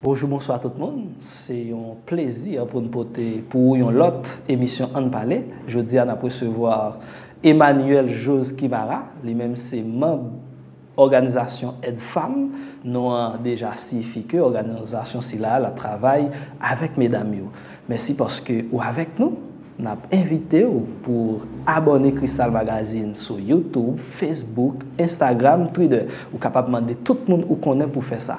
Bonjou bonswa tout moun, se yon plezi pou n pote pou ou yon lòt emisyon Ann pale. Jodi a n ap resevwa Emmanuel Jose Kimara, li menm se manb òganizasyon Edfam, non an deja siyifi ke òganizasyon sila a l ap travay avèk medam yo. Mèsi paske ou avèk nou, n ap envite ou pou ou abòne Kristal Magazine sou Youtube, Facebook, Instagram, Twitter. Ou kapab mande tout moun ou konnen pou fè sa.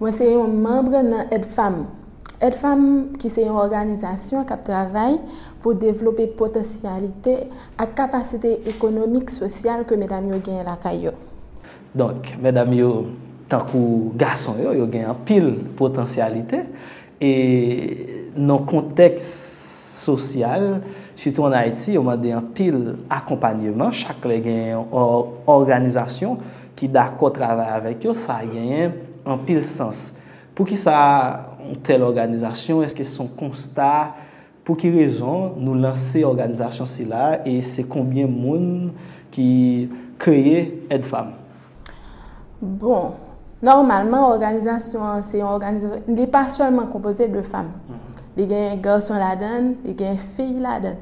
Mwen se yon manbre nan Edfam. Edfam ki se yon òganizasyon kap travay pou devlope potansyalite ak kapasite ekonomik, sosyal ke medam yo genyen lakay yo. Donk, medam yo tankou gason yo, yo gen anpil potansyalite e nan kontèks. sosyal, sitou an Ayiti, yo mande anpil akonpanyeman. Chak lè gen yon òganizasyon ki dakò travay avèk yo, sa genyen anpil sans. Poukisa yon tèl òganizasyon? Èske se yon konsta? Pou ki rezon nou lanse òganizasyon sila? E se konbyen moun ki kreye Aide Femmes? Bon, nòmalman òganizasyon an se yon òganizasyon, li pa sèlman konpoze de fanm. Li gen gason ladan, li gen fi ladan.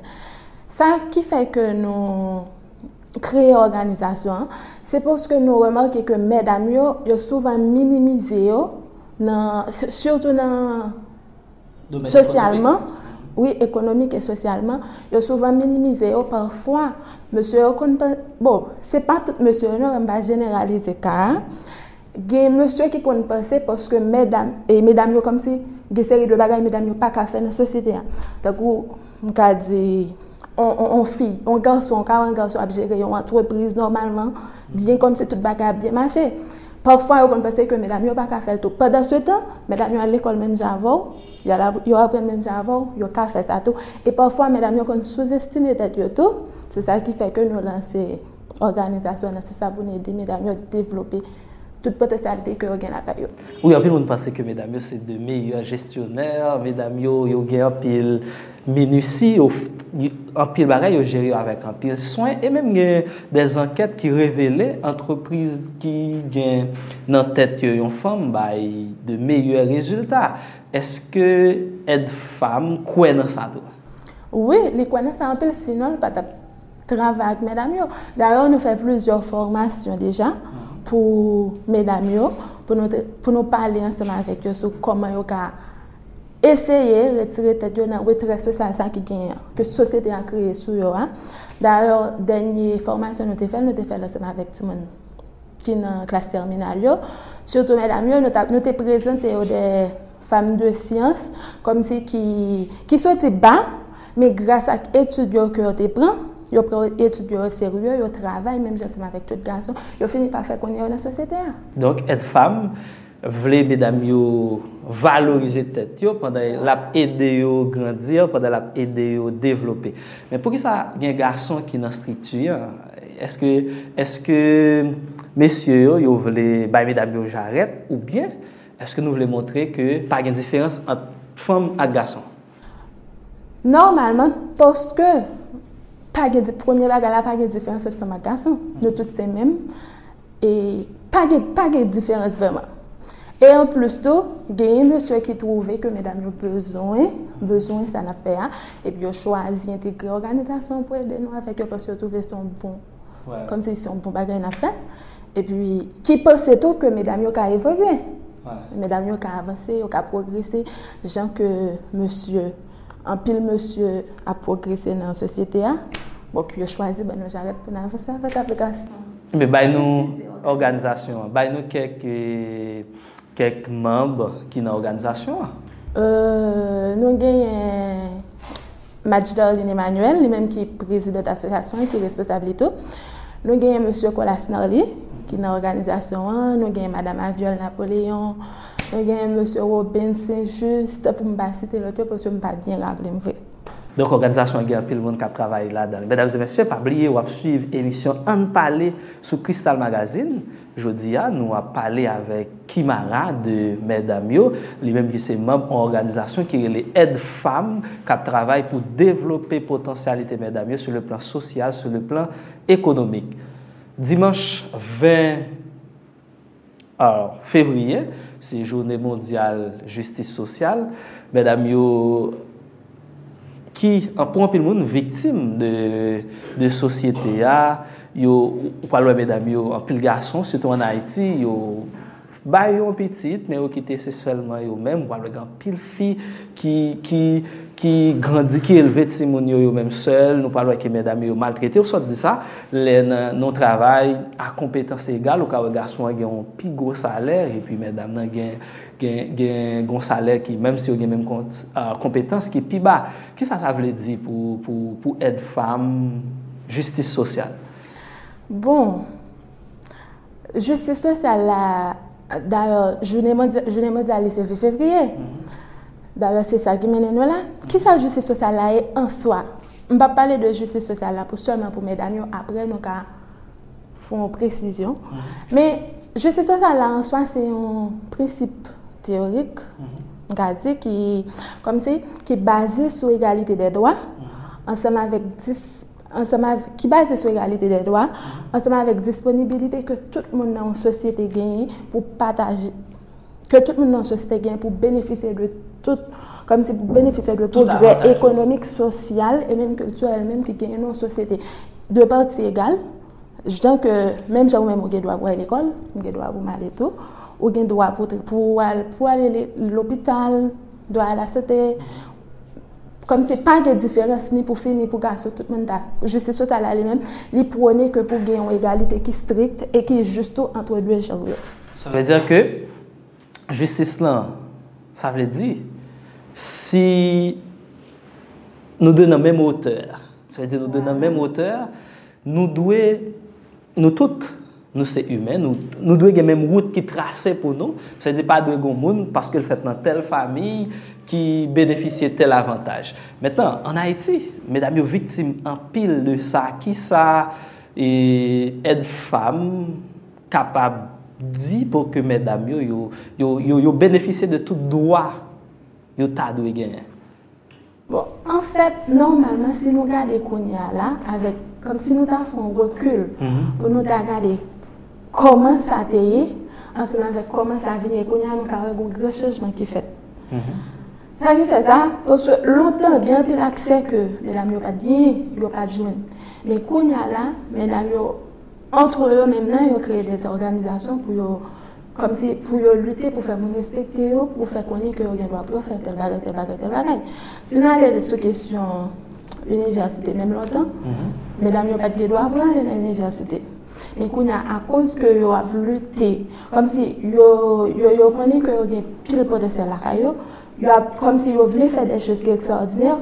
Sa ki fè ke nou kreye òganizasyon an, se paske nou remake ke medam yo, yo souvan minimize yo, sitou nan. Sosyalman, wi, ekonomik e sosyalman, yo souvan minimize yo pafwa. Mesye yo konn pa, bon, se pa tout mesye yo non, men m va jeneralize ka a. Gen mesye ki konn panse paske medam, e medam yo kòm si gen seri de bagay medam yo pa ka fè nan sosyete a. Tankou m ka di, yon fi, yon gason, ka wè yon gason ap jere yon antrepriz nòmalman, byen kòm si tout bagay ap byen mache. Pafwa yo konn panse ke medam yo pa ka fè l tou. Pandansetan, medam yo al lekòl menm jan avè w, yo aprann menm jan avè w, yo ka fè sa tou. E pafwa medam yo konn souzestime tèt yo tou. Se sa ki fè ke nou lanse òganizasyon nan. Se sa pou nou ede medam yo devlope tout potansyalite ke yo gen lakay yo. Wi, anpil moun panse ke medam yo se de meyè jestyonè. Medam yo, yo gen anpil Minutie yo anpil bagay yo jere yo avèk anpil swen e menm gen dè zankèt ki revele antrepriz ki gen nan tèt yo yon fanm bay de meyè rezilta. Eske Ed Fam kwè nan sa tou? Wi, li kwè nan sa anpil sinon li pa t ap travay ak medam yo. Dayè nou fè plizyè fòmasyon deja pou medam yo pou nou pale ansanm avèk yo sou kòman yo ka eseye retire tèt yo nan retrè sosyal sa ki genyen an, ke sosyete a kreye sou yo a. Dayè, dènye fòmasyon nou te fè, nou te fè l ansanm avèk timoun ki nan klas tèminal yo, sitou medam yo, nou te prezante yo de fam de syans, kòmsi ki, ki soti ba, men gras ak etid yo ke yo te pran, yo pran etid yo o serye, yo travay menm jan ansanm avèk tout gason, yo fini pa fè konnen yo nan sosyete a. Donk, Èdfam. vle medam yo valorize tèt yo pandan l ap ede yo grandi, pandan l ap ede yo devlope. Men poukisa gen gason ki nan strikti an? Èske èske mesye yo, yo vle bay medam yo jarèt oubyen èske nou vle montre ke pa gen diferans ant fanm ak gason? Nòmalman, paske pa gen, premye bagay la pa gen diferans ant fanm ak gason. Nou tout se menm. E pa gen, pa gen diferans vrèman. E an plis tou, genyen mesye ki twouve ke medam yo bezwen, bezwen sa n ap fè a, epi yo chwazi entegre òganizasyon pou ede nou avèk yo paske yo twouve se yon bon. Kom si se yon bon bagay nap fè. E pi ki panse tou ke medam yo ka evolye. Medam yo ka avanse, yo ka progrese. Jan ke mesye, anpil mesye ap progrese nan sosyete a. Bon ki yo chwazi ban nou jarèt pou nan avanse avèk aplikasyon. Bay nou òganizasyon an. Bay nou kèk. Kèk manb ki nan òganizasyon an. Nou genyen Madj Darline Emmanuel, li menm ki prezidant asosyasyon an, ki responsab li tou. Nou genyen mesye Colas Narly, ki nan òganizasyon an. Nou genyen madam Aviol Napoleon. Nou genyen mesye Robens Saint Juste, pou m pa site lòt yo, paske m pa byen raple m vre. Donk òganizasyon an gen anpil moun k ap travay ladan l. Medam e mesye, pa bliye w ap suiv emisyon Ann Pale sou Kristal Magazine. Jodi a, nou ap pale avèk Kimara de Mèdam yo, li menm ki se manb on òganizasyon ki rele Èd Fam k ap travay pou devlope potansyalite mèdam yo sou le plan sosyal, sou le plan ekonomik. Dimanch 20 fevriye, se joune mondyal jistis sosyal. Mèdam yo. ki pou anpil moun viktim de sosyete a, yo ou pral wè medam yo anpil gason sitou an Ayiti yo bay yon pitit men yo kite se sèlman yo menm, ou pral wè gen anpil fi ki grandi ki elve timoun yo yo menm sèl, nou pral wè ke medam yo yo maltrete yo, sa w di sa lè nan yon travay a konpetans egal ou ka wè gason an gen yon pi gwo salè epi medam nan gen. Gen yon salè ki, menm si yo gen menm konpetans, ki pi ba. Ki sa sa vle di pou èd fanm, jistis sosyal? Bon, jistis sosyal la, dayè, jounen mondyal li se 20 fevriye. Dayè, se sa ki mennen nou la. Ki sa jistis sosyal la ye an swa? M pa pale de jistis sosyal la pou sèlman pou medam yo, aprè nou ka. fè yon presizyon. Men, jistis sosyal la an swa se yon prensip teyorik, m ka di, ki, kòm si, ki baze sou egalite dè dwa, ansanm avèk dis, ansanm avèk, ki baze sou egalite dè dwa, ansanm avèk disponibilite ke tout moun nan yon sosyete genyen pou pataje. ke tout moun nan sosyete gen pou benefisye de tout, kòmsi pou benefisye de pwogrè ekonomik, sosyal, e menm kiltirèl menm ki genyen nan yon sosyete. De pati egal, jan ke, menm jan ou menm ou gen dwa pou al lekòl, ou gen dwa pou m ale tou, ou gen dwa pou ou al, pou al lopital, dwa a la sote, kòmsi pa gen diferans ni pou fi ni pou gason, tout moun ta, jistis sosyal la li menm, li pwone ke pou gen yon egalite ki strik e ki jis tou antre de janr yo. Sa vle di ke jistis lan, sa vle di, si nou de nan menm wotè, sa vle di nou de nan menm wotè, nou dwe, nou tout, nou se imen, nou dwe gen menm wout ki trase pou nou, sa vle di pa dwe gen yon moun paske l fèt nan tèl fami ki benefisye tèl avantaj. Mentnan, an Ayiti, medam yo viktim anpil de sa. Kisa èd fanm. kapab di pou ke mètdam yo, yo, yo benefisye de tout dwa yo ta dwe genyen. Bon, an fèt, nòmalman, si nou gade kounye a la, avèk, kòm si nou ta fè yon rekil, pou nou ta gade kòman sa te ye, ansanm avèk kòman sa vin ye kounye a, nou ka wè gen gwo chanjman ki fèt. Sa ki fè sa, paske lontan, gen anpil aksè ke medam yo pa t genyen, yo pa t jwenn. Men kounye a la, medam yo. Antre yo menm nan yo kreye de òganizasyon pou yo kòmsi pou yo lite pou fè moun respekte yo, pou fè konnen ke yo gen dwa pou yo fè tèl bagay, tèl bagay, tèl bagay. Si nou ale sou kesyon inivèsite menm lontan, medam yo pat gen dwa pou yo ale nan inivèsite. Men kounye a akoz ke yo ap lite, kòmsi yo yo konnen ke yo gen pil potansyèl lakay yo, yo ap kòmsi yo vle fè de choz ki ekstraòdinè,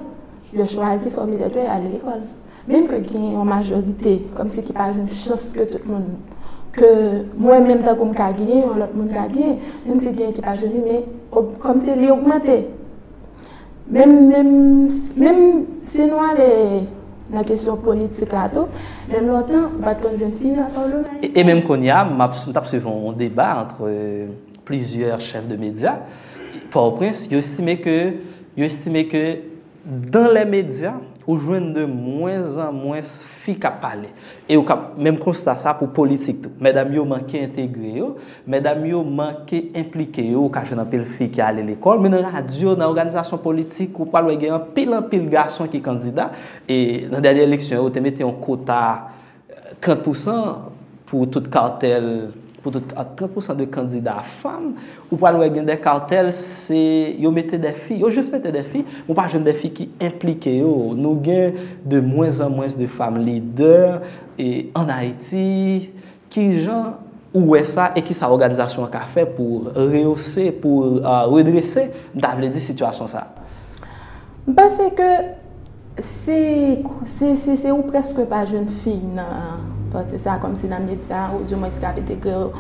yo chwazi fòmilè dwe yo ale lekòl. Menm ke gen yon majorite kòmsi ki pa jwenn chans ke tout moun, ke mwen menm tankou m ka genyen, yon lòt moun ka genyen, menm si genyen ki pa jwenn li, men kòmsi li ogmante. Menm, menm, menm si nou ale nan kesyon politik la tou, menm lontan ou pa t konn jwenn fi nan palman. E menm kounye a, m ap, m t ap swiv yon deba antre plizyè chèf de medya, Pòtoprens, yo estime ke, yo estime ke. Dan lè medya, ou jwenn de mwens an mwens fi k ap pale. E ou ka menm konsta sa pou politik tou. Medam yo manke entegre yo, medam yo manke enplike yo. Ou ka jwenn anpil fi ki ale lekòl, men nan radyo, nan òganizasyon politik, ou pral wè gen anpil anpil gason ki kandida. E nan dènye eleksyon yo, yo te mete yon kota. 30 pousan pou tout cartel pou tout 30 pousan de kandida fanm ou pral wè gen de cartel se yo mete de fi yo jis mete de fi ou pa jwenn de fi ki enplike yo nou gen de mwens an mwens de fanm lidè e an ayiti kijan ou wè sa e kisa òganizasyon an ka fè pou reyose pou redrese m ta vle di sitiyasyon sa. M panse ke. Se, se ou prèske pa jwenn fi nan pati sa, kòm si nan medya ou di mwen sika pete kè ou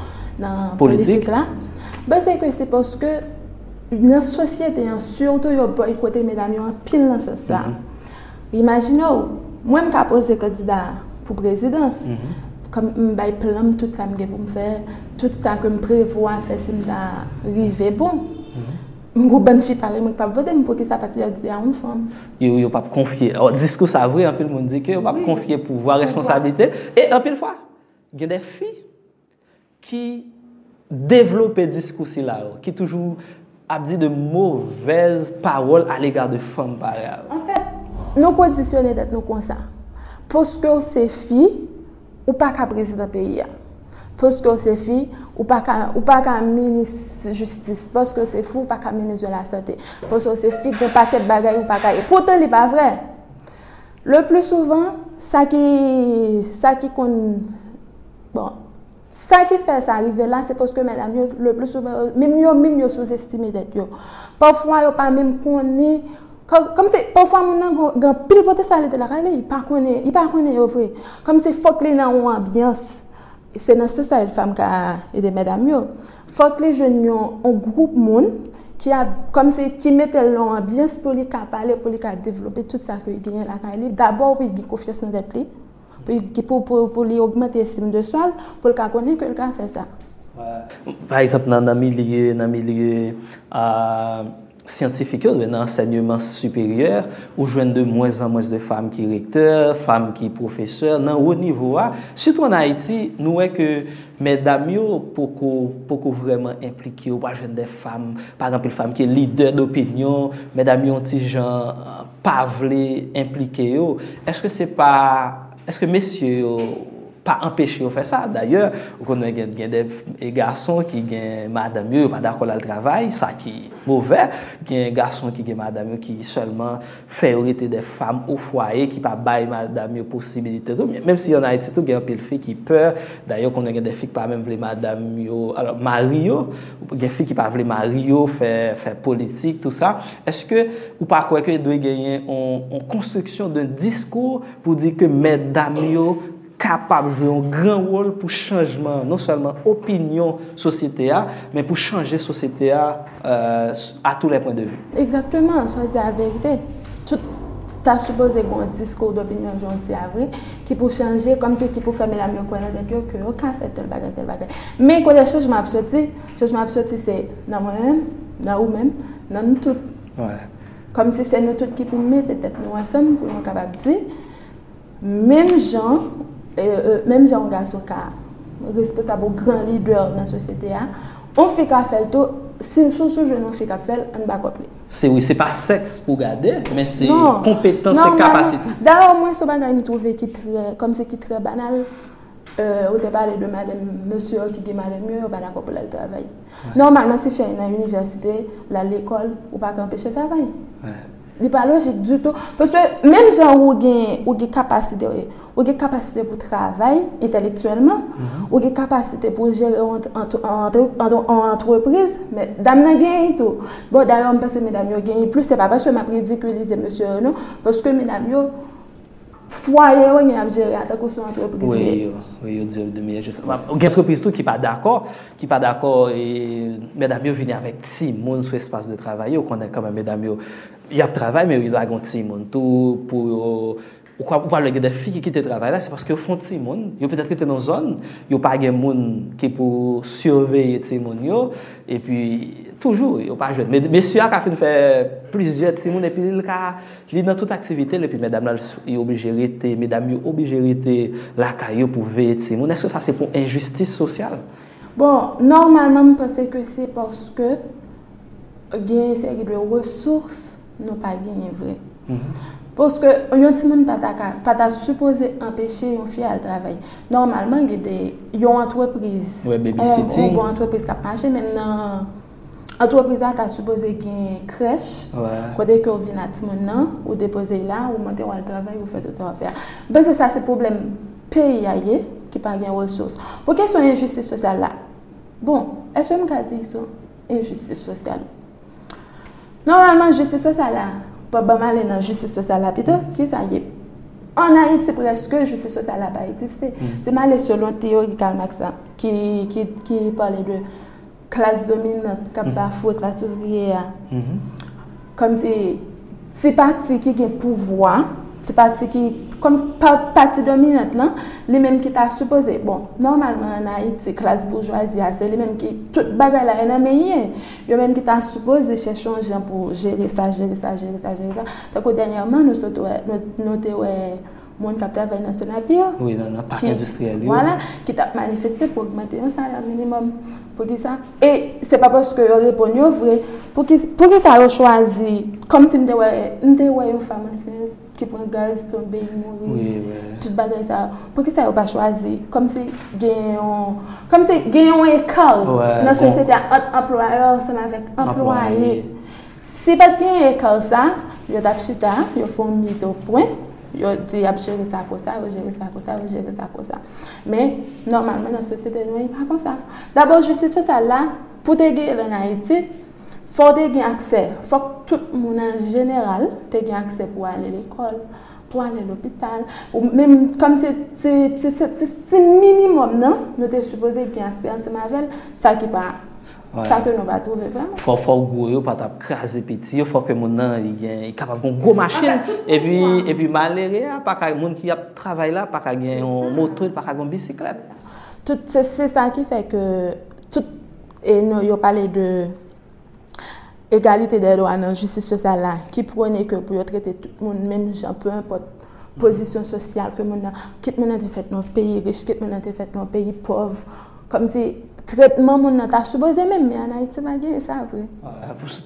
nan politik la. Politik? Ben se ke se paske nan sosyete an, sitou yo boykote medam yo anpil nan sans sa. Imajine ou, mwen m ka poze kandida pou prezidans, kòm m bay plan m, tout sa m gen pou m fè, tout sa ke m prevwa fè si m ta rive bon. M gou bann fi parèy mwen ki pap vote m poukisa paske yo di a yon fanm. Yo pap konfye. Diskou sa vre anpil moun di ke yo pap konfye pouvwa, responsablite e anpil fwa gen de fi ki devlope diskou sila yo ki toujou ap di de movèz pawòl a lega de fanm parèy a yo. Anfèt, nou kondisyone tèt nou konsa. Paske w se fi, Ou pa ka prezidan peyi a. Paske w se fi, ou pa ka, ou pa ka minis jistis. Paske w se fi, ou pa ka minis de la sante. Paske w se fi, gen pakèt bagay ou pa ka ye. Poutan li pa vrè. Le pli souvan, sa ki, sa ki konn, bon, Sa ki fè sa rive la, se paske medam yo, le pli souvan, menm yo menm yo souzestime tèt yo. Pafwa yo pa menm konnen, kòm si, pafwa moun nan gen anpil potansyalite lakay li, li pa konnen, li pa konnen yo vre. Kòm si fòk li nan yon anbyans, se nan sans sa Èd Fanm ka ede medam yo. Fòk li jwenn yon gwoup moun ki ap, kòm si, ki mete l nan yon anbyans pou li ka pale, pou li ka devlope tout sa ke li genyen lakay li. Dabò wi, gen konfyans nan tèt li. pou li ogmante estim de swa l, pou l ka konnen ke l ka fè sa. Pa egzanp, nan milye, nan milye syantifik yo, nan ansènyeman siperyè, ou jwenn de mwens an mwens de fanm ki rektè, fanm ki pwofesè, nan wo nivo a, sitou an Ayiti, nou wè ke mèdam yo poko, poko vrèman enplike, ou pa jwenn de fanm, pa gen anpil fanm ki lidè dopinyon, mèdam yo yon ti jan. pa vle enplike yo, eske se pa, eske mesye yo pa anpeche yo fè sa? Dayè, ou konnen gen gen de gason ki gen madanm yo, yo pa dakò lal travay, sa ki movè. Gen gason ki gen madanm yo ki sèlman fè yo rete de fam o fwaye, ki pa bay madanm yo posibilite tou. Menm si an Ayiti tou gen anpil fi ki pè, dayè ou konnen gen de fi ki pa menm vle madanm yo, alò mari yo. Gen fi ki pa vle mari yo fè politik tout sa. Eske ou pa kwè ke dwe genyen yon konstriksyon de diskou pou di ke mètdam yo kapab jwe yon gran wol pou chanjman non sèlman opinyon sosyete a, men pou chanje sosyete a a tou lè pwen de vi? Egzakteman, swa di a verite. Tout ta sipoze gen yon diskou dopinyon jodi a vre. ki pou chanje, kòmsi ki pou fè medam yo kwè nan tèt yo ke yo ka fè tèl bagay, tèl bagay. Men kote chanjman ap soti, chanjman ap soti se nan mwen menm, nan ou menm, nan nou tout. Kòmsi se nou tout ki pou mete tèt nou ansanm pou nou kapab di, menm jan, menm jan yon gason ka responsab ou gran lidè nan sosyete a, yon fi ka fè l tou, si sou sou jwenn yon fi k ap fè l, ann bakòp li. Se wi, se pa sèks pou gade, men se konpetans, se kapasite. Dayè, mwen se bagay m twouve ki trè, kòm se ki trè banal, ou te pale de madanm, mesye yo ki gen madanm yo, yo pa dakò pou l al travay. Nòmalman, si fi a nan inivèsite, l al lekòl, ou pa ka anpeche l travay. Li pa lojik ditou. Paske, menm jan ou gen kapasite. Ou gen kapasite pou travay entèlektyèlman, ou gen kapasite pou jere yon antrepriz, men dam nan genyen tou. Bon, dayè m panse medam yo genyen plis, se pa paske m ap ridikilize mesye yo non, paske medam yo, fwaye yo gen ap jere a tankou se yon antrepriz li ye. Wi, yo di yo gen meyè jesyon. Gen antrepriz tou ki pa dakò, ki pa dakò medam yo vini avèk timoun sou espas de travay yo, ou konnen kòman medam yo, y ap travay men yo lage yon timoun tou pou yo. Ou ka ou pral wè gen de fi ki kite travay la se paske yo fon timoun, yo petèt rete nan zòn, yo pa gen moun ki pou siveye timoun yo, epi toujou yo pa jwenn. Men mesye a ka fin fè plizyè timoun epi li ka li nan tout aktivite l epi medam la li oblije rete, medam yo oblije rete lakay yo pou veye timoun. Eske sa se pou enjistis sosyal? Bon, nòmalman m panse ke se paske gen yon seri de resous. Nou pa genyen vre. Paske yon ti moun pa ta sipoze anpeche yon fi al travay. Nòmalman gen de yon antrepriz. Yon bon antrepriz kap mache menm nan. Antrepriz la ta sipoze gen krèch. Kote ke ou vin ak ti moun nan. Ou depoze la, ou monte ou al travay, ou fè tout sa wap fè a. Mwen se sa se pwoblèm peyi a ye. Ki pa gen resous. Pou kesyon enjistis sosyal la. Bon, eske m ka di sou. Enjistis sosyal. Nòmalman, jistis sosyal la, pa banm ale nan jistis sosyal la pito, ki sa ye? An Ayiti prèske jistis sosyal la pa egziste. Si m ale selon teyori Karl Marx la, ki pale de klas dominant k ap bafwe klas ouvriye a, Kòm se ti pati ki gen pouvwa, ti pati ki, kòm pati dominant lan, li menm ki ta sipoze, bon, nòmalman an Ayiti, klas boujwazi a, se li menm ki, tout bagay la e nan men ye, yo menm ki ta sipoze chèche yon jan pou jere sa, jere sa, jere sa, jere sa, tankou dènyèman nou sot wè, nou te wè. moun kap travay nan Sonapi yo. Wi, nan nan pak endistriyèl yo. Vwala, ki tap manifeste pou ogmante yon salè minimòm. Pou ki sa? E, se pa paske yo reponn yo vre. Pou ki, pou ki sa yo chwazi, kòm si m te wè, m te wè yon fanm ansent ki pran gaz tonbe li mouri. Wi, wi. Tout bagay sa yo. Pou ki sa yo pa chwazi, kòm si gen yon, kòm si gen yon ekal nan sosyete a ant anplwayè ansanm avèk anplwaye. Si pat genyen ekar sa, yo tap chita, yo fè yon mize o pwen, yo di yap jere sa konsa, yo jere sa konsa, yo jere sa konsa. Men, nòmalman nan sosyete nou an e pa konsa. Dabò jistis sosyal la, pou te genyen l an Ayiti, fò w te gen aksè, fòk tout moun an jeneral te gen aksè pou ale lekòl, pou ale lopital, ou menm kòm se ti minimòm nan, nou te sipoze gen aspè ansanm avè l, sa ki pa. Sa ke nou pa twouve vreman. Fò fò gwo yo pa tap kraze piti yo, fò ke moun nan li gen, li kapab gen yon gwo machin, epi, epi malere a pa ka, moun ki ap travay la pa ka gen yon moto, li pa ka gen yon bisiklèt. Tout, se sa ki fè ke, tout, e nou yo pale de, Egalite dè dwa nan jistis sosyal la ki pwone ke pou yo trete tout moun menm jan pe enpòt pozisyon sosyal ke moun nan, kit moun nan te fèt nan yon peyi rich, kit moun nan te fèt nan yon peyi pòv, kòmsi tretman moun nan ta sipoze menm, men an Ayiti pa genyen sa vre.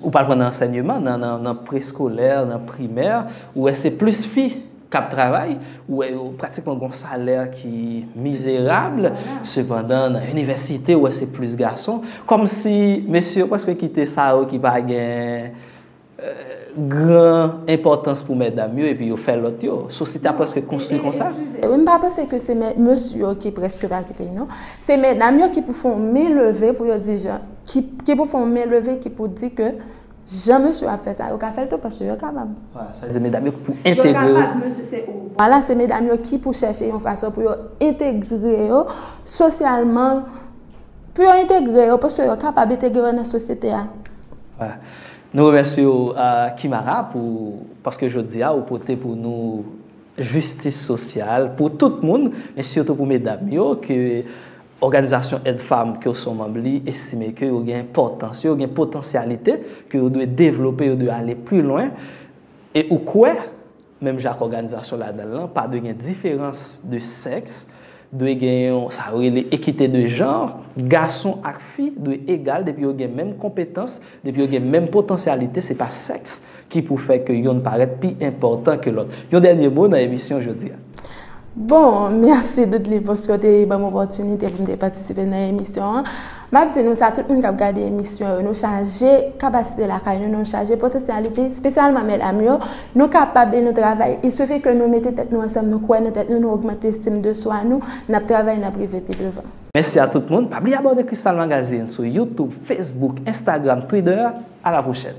Ou pral pran nan ansènyeman, nan preskolè, nan primè, ou wè se plis fi k ap travay, ou wè yo pratikman gen yon salè ki mizerab, sepandan nan inivèsite ou wè se plis gason, kòmsi mesye yo prèske kite sa yo ki pa gen gran enpòtans pou mètdam yo epi yo fè lòt yo. Sosyete a prèske konstwi konsa. Wi, m pa panse ke se mesye yo ki prèske pa kite yo non. Se mètdam yo ki pou fè yon men leve pou yo di jan, ki pou fè yon men leve ki pou di ke Jan mesye yo ap fè sa, yo ka fè l tou paske yo kapab. Wala, sa di medam yo pou entegre. Yo kapab, mesye se ou. Wala, se medam yo ki pou chèche yon fason pou yo entegre yo sosyalman, pou yo entegre yo paske yo kapab entegre yo nan sosyete a. Wala. Nou remèsye ou Kimara pou, paske jodi a ou pote pou nou jistis sosyal pou tout moun, men sitou pou medam yo ke Òganizasyon èd fanm ke w son manb li estime ke yo gen enpòtans, yo gen potansyalite, ke yo dwe devlope, yo dwe ale pli lwen, e ou kwè, menm jan ak òganizasyon ladan l lan, pa dwe gen diferans de sèks, dwe gen yon sa yo rele ekite de janr, gason ak fi dwe egal depi yo gen menm konpetans, Depi yo gen menm potansyalite, se pa sèks ki pou fè ke yonn parèt pi enpòtan ke lòt. Yon dènye mo nan emisyon jodi a. Bon, mèsi Dudley paske w te ban m opòtinite pou m te patisipe nan emisyon an. M ap di nou sa, tout moun k ap gade emisyon yo, nou chaje kapasite lakay nou, nou chaje potansyalite, spesyalman medam yo. Nou kapab e nou travay. Il suffit ke nou mete tèt nou ansanm, nou kwè nan tèt nou, nou ogmante estim de swa nou, n ap travay, n ap rive pi devan. Mèsi a tout moun, pa bliye abòne Crystal Magazine sou YouTube, Facebook, Instagram, Twitter, a la pwochèn.